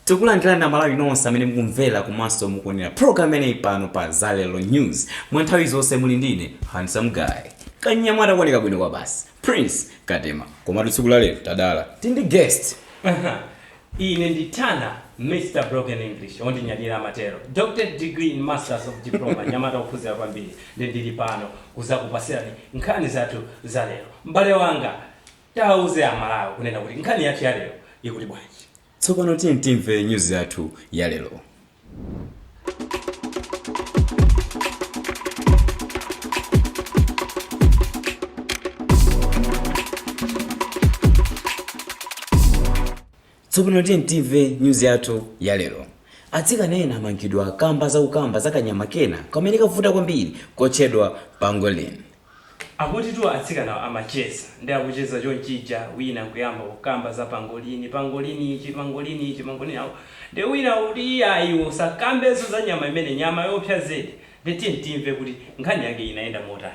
tikulandirani amalawi nonse amene mukumvera komanso mukuonera program imeneyi pano pa zalero news mwa nthawi zonse muli ndine handsome guy kanyamata kuoneka bwino kwa basi prince katema komatu tsiku lalero tadala tili ndi guest ine ndi tannah mr broken english ondinyadira amatero doctorate degree in masters of diploma mnyamata ophunzira kwambiri ndi ndili pano kuzakupatsirani nkhani zathu za lero m'bale wanga Tawauza a Malawi kunena kuti nkhani yathu ya lero ikuti bwanji. Tsopano tiyeni timve nyuzi yathu ya lero. Tsopano tiyeni timve nyuzi yathu ya lero. Atsikana ena amangidwa kamba za kukamba za kanyama kena kamene kavuta kwambiri kotchedwa pangolin. Akutitu atsikanawa amacheza ndi akucheza chonchija wina nkuyamba kukamba za pangolini, pangolin ichi, pangolin icho, pangolin awo ndiye wina akuti iyayi iwe usakambenso za nyama imeneyo nyama yoopsa zedi ndiye tiyeni timve kuti nkhani yake inayenda motani.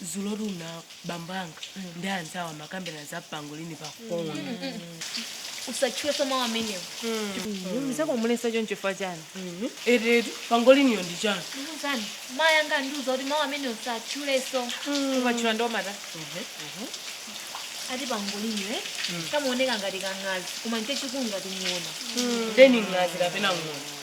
dzulotu kuna bambo anga ndi anzawo amakambirana za pangolini pa phone usatchulenso mawu amenewo mzako muletsa choncho chifukwa chani eti pangoliniyo ndi chani ndiuzeni mayi anga andiuza kuti mawu amenewo usatchulenso ukatchula ndiwomata ati pangoliniyo kamaoneka ngati kang'azi koma nchechikulu ngati ng'ona ndeni ng'azi kapena ng'ona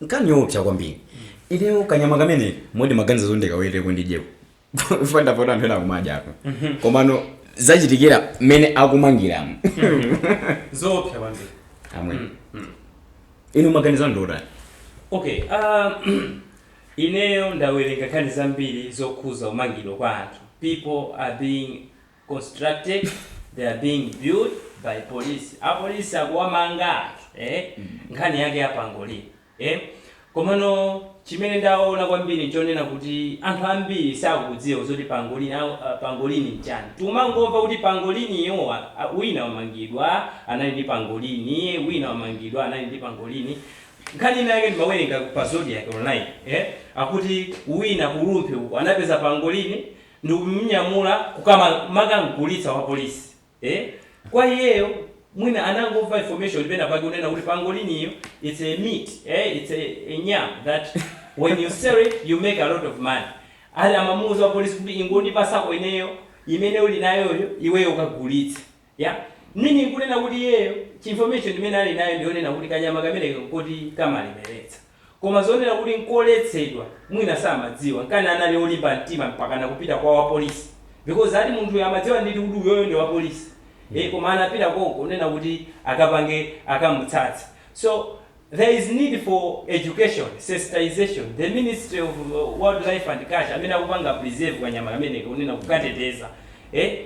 nkhani yoopsa kwambiri ineyo kanyama kameneko moti ndimaganiza zoti ndikaweteko ndidyeko fanda poti anthu ena akumadya apo komano zachitikira mmene akumangiramo zoopsa kwambiri amwene inu maganizo anu ndiotani okay um, ineyo ndawerenga nkhani zambiri zokhudza kumangidwa kwa anthu people are being constructed, they are being built by police, a police akuwamanga anthu ee nkhani yake yapangolin ee komano chimene ndaona kwambiri nchonena kuti anthu ambiri sakudziwa zoti pangolin aa pangolin nchani tikumangomva kuti pangolin yo a wina wamangidwa anali ndi pangolin wina wamangidwa anali ndi pangolin nkhani ina yake ndimawerenga pa zodiak online ee akuti wina ku rumphi uko anapeza pangolin ndikumunyamula kukamaka kamgulitsa wa police eh kwa iyeyo mwina anangomva information pena pake kunena kuti pangoliniyo it's a meat eh it's a a nyama that when you sell it you make a lot of money ati amamuuza wa police kuti ingondipatsako ineyo imene uli nayoyo iweyo ukagulitse Yeah? Meaning kunena kuti iyeyo chi information imene ali nayo ndi yonena kuti kanyama kameneka nkoti kamalemeretsa. Koma zonena kuti nkoletsedwa mwina samadziwa. Nkana anali olimba mtima mpakana kupita kwa wapolisi. Because ati munthuyo amadziwa ndithu kuti uyoyo ndi wapolisi. Eeh koma anapita konko kunena kuti akapange akamutsatsa. So. There is need for education, sensitization, the ministry of wildlife and culture amene akupanga preserve kanyama kameneka kunena kukateteza eh?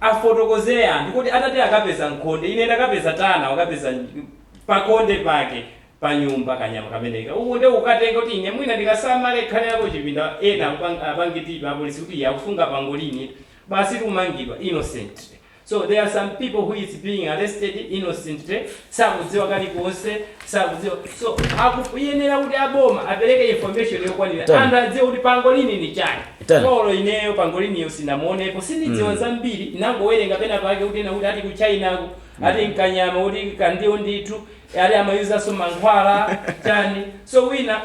afotokozere anthu kuti atati akapeza nkhonde ine ndakapeza tana wakapeza nj- pakonde pake pa nyumba kanyama kameneka uku nde ukatenga kuti ine mwina ndikasamale khale yako chipinda ena apange tipa apolisi kuti iye akusunga pangolini basi kumangidwa innocently So there are some people who is being arrested innocently sakudziwa kalikonse sakudziwa so akuyenera kuti aboma apereke information yokwanira anthu adziwe kuti pangolini ndi chani olo ineyo pangoliniyo sinamuonepo sindidziwa zambiri nangowerenga pena pake kuti ena kuti ati ku china ku ati nkanyama kuti kandiwo ndithu ati amayuzaso mankhwala chani so wina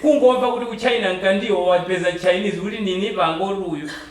kungomva kuti ku china nkandiwo wapeza chinese kuti nini pangolin uyu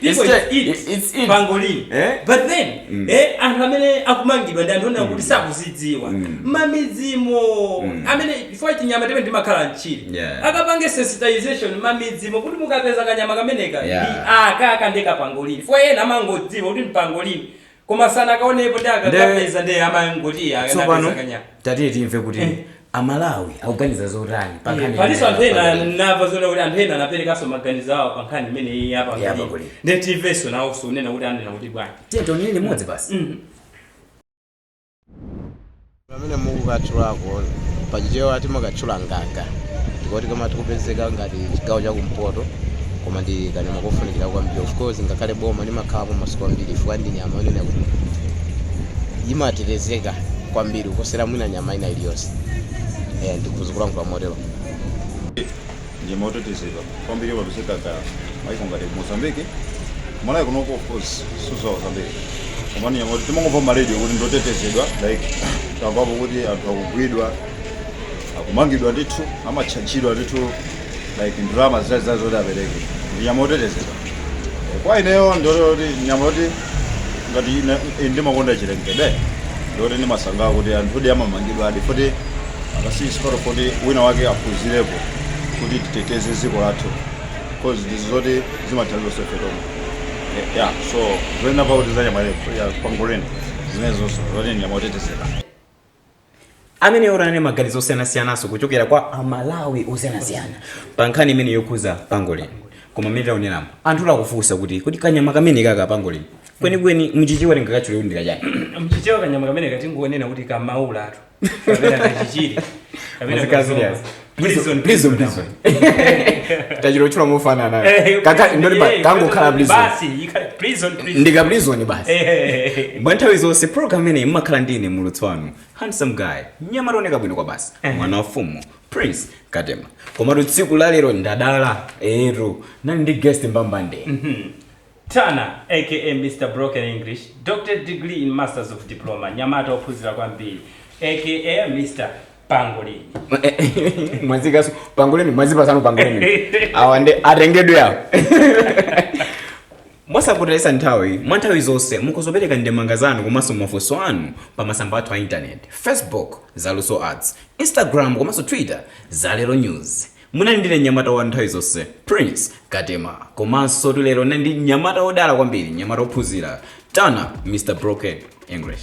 People eat pangolin Eh? but then eh, anthu amene akumangidwa ndi anthu onena kuti sakuzidziwa mamidzimo amene chifukwa tinyama timene timakhala mchire Yeah. akapange sensitization mamidzimo kuti mukapeza kanyama kameneka aka aka ndi kapangolini chifukwa ena amangodziwa kuti mpangolini koma sanakaonepo nde akakapeza ndi amangoti akapeza kanyama tsopano tatiyeni timve kuti amalawi akuganiza zotani pa nkhani palinso anthu ena imeneyi. namva zoona kuti anthu ena anaperekanso maganizo awo pa nkhani imeneyi ya pangolini nde timvenso nawonso unena kuti anena kuti bwanji tiyeni tionere limodzi basi Mm. pamene mukukatchulako pachichewa timakatchula ngaka ndi koti kamati kupezeka ngati chigawo chakumpoto koma ndi kanyama kofunikira kwambiri of course ngakhale boma umakhalapo masiku ambiri chifukwa ndi nyama yonena kuti imatetezeka kwambiri kuposera mwina nyama ina iliyonse Eh, ndikutha kulankhula motero ndi nyama yotetezedwa kwambili imapezeka kumaiko ngati ku mozambique kumalawi kunoko of course sindidziwa zambiri koma ndi nyama yoti timangomva mmaradio kuti ndotetezedwa like tamvapo kuti anthu akugwidwa akumangidwa ndithu amatchajidwa ndithu like ndalama zakutizakuti zoti apereke ndi nyama yotetezedwa kwa ineyo ndoti nyama yoti ngati ine- ine ndimakonda chilengedwe ndoti ndimasangalala kuti anthuwodi amamangidwadi kuti akasiyisikoro kuti wina wake aphunzirepo kuti titeteze dziko lathu cause ndi zoti zimathandiza so ife tomwe ya so zoyenera pakuti za nyama ya pangolin zimenezonso zoti nyama yotetezeka amene maganizo osiyanasiyananso kuchokera kwa amalawi osiyanasiyana pa nkhani imene yokhuza pangolin koma mmene taoneramu anthu akufunsa kuti kanyama kamene kaka pangolin kwenikweni mchichewa tingakatchule kuti ndikachani mchichewa kanyama kamene katingonena kuti kamaulatu kapena kachichiri kapena Muzika kazomba. serious. Prison, prison, prison. tachiro chula mufana nayo Eh, Kaka- ndoti pa- eh, kangokhala prison basi yika- prison, prison. ndika prison basi Eh, mwa nthawi zonse program imeneyi mumakhala ndi ine mulutsi wanu handsome guy mnyamata oneka bwino kwabasi Eh. mwana wa mfumu prince katema komatu tsiku lalero ndadala tu ndili ndi guest mbambande Tana aka Mr Broken English, Doctorate Degree in Masters of Diploma, mnyamata ophunzira kwambiri aka Mr Pangolini. mwazikaso pangoleni mwazipasano pangoleni awa ndi atengedwe awo mwasakutalitsa nthawi mwa nthawi zonse muzipereka ndemanga zanu komanso mafunso anu pa masamba athu a intaneti facebook zaluso arts instagram komanso twitter zalero news Munali ndine mnyamata wa nthawi zonse, Prince Katema. Komansotu lero ndinali ndi mnyamata wodala kwambiri, mnyamata wophunzira, Tana Mr. Broken English.